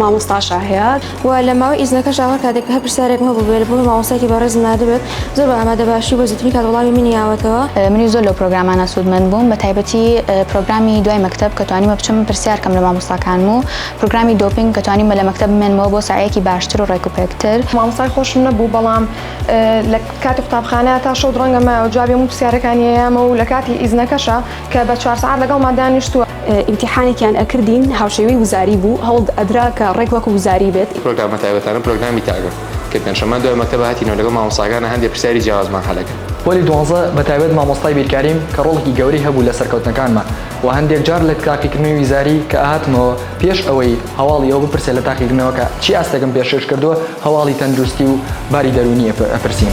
مامۆستا شاهێار و لە ماوەی ئیزنەکەشدا هەر کاتێک هەر پرسیارێکم هەبووبێت لە بۆ مامۆستایەکی بەڕێزم ناردبێت زۆر بە ئامادە باشی و بە زووترین کات وەڵامی منی یاوەتەوە. منیش زۆر لەو پرۆگرامانە سوودمەند بووم بە تایبەتی پرۆگرامی دوای مەکتەب کە توانیمە بچم پرسیار کەم لە مامۆستاکانم و پرۆگرامی دۆپینگ کە توانیمە لە مەکتەب بمێنمەوە بۆ سەعیەکی باشتر و ڕێکوپێکتر. مامۆستای خۆشم نەبوو بەڵام لە کاتی قوتابخانە تا شەو درەنگە مایەوە جوابی هەموو پرسیارەکانی ئەیامەوە و لە کاتی ئیزنەکەشا کە بە چوار سەعات لەگەڵمان دانیشتووە. ئیمتیحانێکیان ئەکردین هاوشێوەی وزاری بوو هەوڵد ئەدرا کە ڕێک وەکو وزاری بێت. پرۆگرامە تایبەتانە پرۆگرامی تاگە کە پێنجشەمان دوای مەکتەبە هاتینەوە لەگەڵ مامۆستاکانە هەندێ پرسیاری جیاوازمان حەلە کرد. پۆلی دوانزە بە تایبەت مامۆستای بیرکاریم کە ڕۆڵێکی گەورەی هەبوو لە سەرکەوتنەکانمان وە هەندێک جار لە تاقیکردنەوەی وزاری کە ئەهاتمەوە پێش ئەوەی هەواڵی ئەوە بپرسێ لە تاقیکردنەوەکە چی ئاستێکم پێشکەش کردووە هەواڵی تەندروستی و باری دەروونی ئەپرسین.